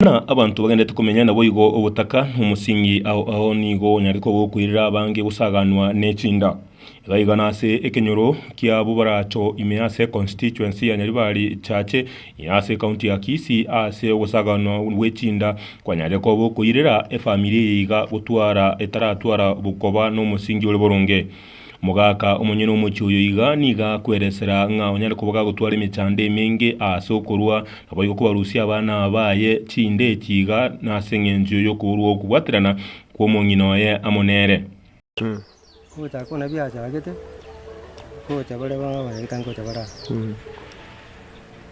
Buna abanto bagenderete komenya naboigo ogotaka nomosingi ao ao nigo onyare koba okoirera abange gosaganwa ne chinda. Iga iga nase ekenyoro kiabo baracho ime ase constituency ya Nyaribari Chache ya ase county ya Kisii ase ogosaganwa gwe chinda kwanyarire koba okoirera efamiri eye iga gotwara etaratwara koba nomosingi ore boronge. Mogaaka omonyene omochie oyo iga nigo akweresera ng'a onyare koba gagotwara emechando emenge aase okorua, naboigo kobarusia abana baye chinde echi iga nase engencho y'okoorwa okobwaterana kw'omong'ina oye amo nere. Ogochaka buna biachagete, ngocha bare bang'aurere, tang'ocha bare aa.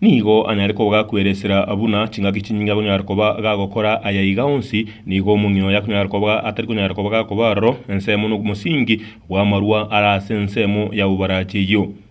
Nigo anyare kogakwera-esera buna chingaki chinyinge akonyara koba gagokora aya iga onsi, nigo omong'ina oye akonyara koba atari konyara koba gakoba aroro ensemo na omosingi bw'amarua ara ase ensemo y'ababarachi eyio.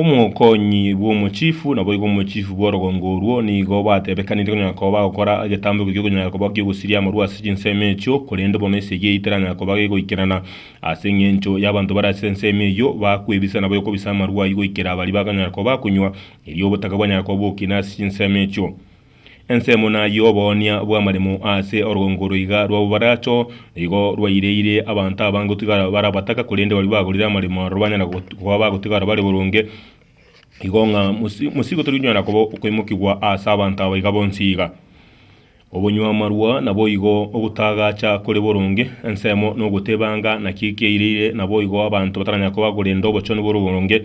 Omokonyi bw'omochifu naboigo omochifu bw'orogongo orwo nigo batebekanete konyara koba bagokora egetambo eke gikonyara koba gi'ogosiria amarwa ase chinsemo echio, korende bono esegi eyio teranyara koba gegoikerana, ase engencho y'abanto bare ase ensemo eyio bakwebisa nabo yokobisa amarwa ayio goikera baria bakonyara koba bakonywa, erio obotaka bwanyara koba bokina ase chinsemo echio. Ensemo nayio oboonia bw'amaremo ase orogongo roiga rw'abwo baracho, igo rwaireire abanto aba ngotigara barabataka, korende baria bagorire amaremo aroro banyare koba bagotigara bare boronge, igo ng'a mosigo tori konyara koba okoimokigwa ase abanto aba iga bonsi iga. Obonywa amarwa naboigo ogotaagacha kore boronge, ensemo na ogotebanga naki ekiaireire, naboigo abanto bataranyare koba korenda obochenu bore boronge,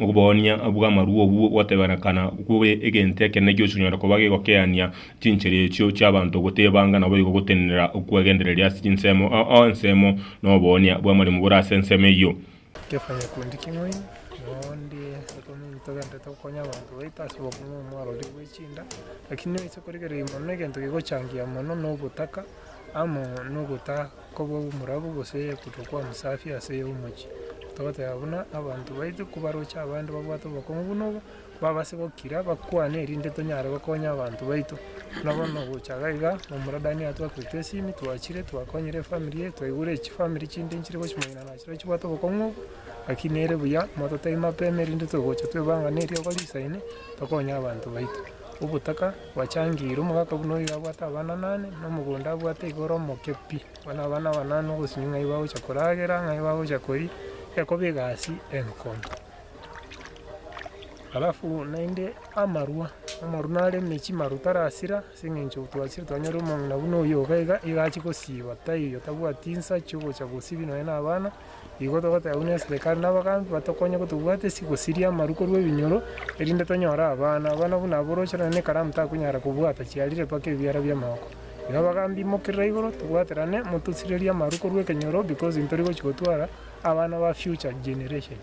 Obohonia bw'amarua obwo goteberekana kobe egento ekenene gichonyara koba gegokeania chinchera echio chi'abanto gotebanga naboigo gotenenera okwegendereria ase chinsemo ensemo na obohonia bw'amaremu bore ase ensemo eyio. Kefanya kundi king'wein, mondi ekominyi togenderete gokonya abanto baito ase obokong'u omorori bwe chinda, lakini noise korigereria mono egento gegochangia mono nobotaka amo nogotaa. Koba obomorabu gose kotwa kwa omosafi ase omochie, togoteba buna abanto baito kobaroche abande babwate obokong'u buna obo, babase gokira bakwane erinde tonyare gokonya abanto baito. Buna bono gocha iga iga, omoradani atwakorete esimi, twachire twakonyire efamiri eye, twaigure chifamiri chinde nchire gochimanyana na achire chibwate obokong'u obo, naki nere buya mototebi mapema erinde togocha twebangane riroba risaine, tokonye abanto baito. Obotaka. Gwachangiire, omogaka buna oyo abwate abana anane, na omogondo abwate iga ore omoke pi. Abana abana abanane ogosinywa ng'ai bagocha koragera, ng'ai bagocha koria, ekoba egasi enkong'u. Alafu naende amarwa, amarwa nare emechie marwa tarasira, ase eng'encho twasira twanyora omong'ina buna oyo iga iga, iga achia gosiba taiyo tabwati nsa chigocha gosibia nonye na abana. Igo togoteba buna eserekari na abagambi batokonye gotobwata ase gosiria amaru korwa ebinyoro, erinde tonyore abana. Abana buna abo oroche nonye nekaramu takonyara kobwata, chiarire mpaka ebiara bi'amagoko. Igo abagambi imokerere igoro, tobwaterane, motosirerie amaru korwa ekenyoro, because intore gochi gotwara abana ba future generation.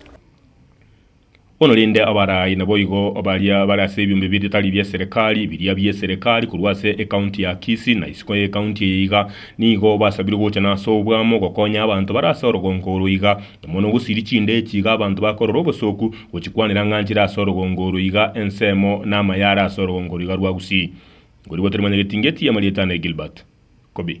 Bono rinde abaraai naboigo baria bare ase ebiombe bitari bi'eserekari, biria bi'eserekari korwa ase ekaunti ya Kisii na isiko y'ekaunti eye iga, nigo basabirwe gocha nase obwamo gokonya abanto bare ase orogongo oro iga, na mono gosiria chinde echi iga abanto bakorora obosooku gochikwanera ng'a nchire ase orogongo oro iga ensemo na amaya are ase orogongo oro iga rwa Gusii. Nkorigwa tari manya getingi etiama rietane Gilbert. Kobi.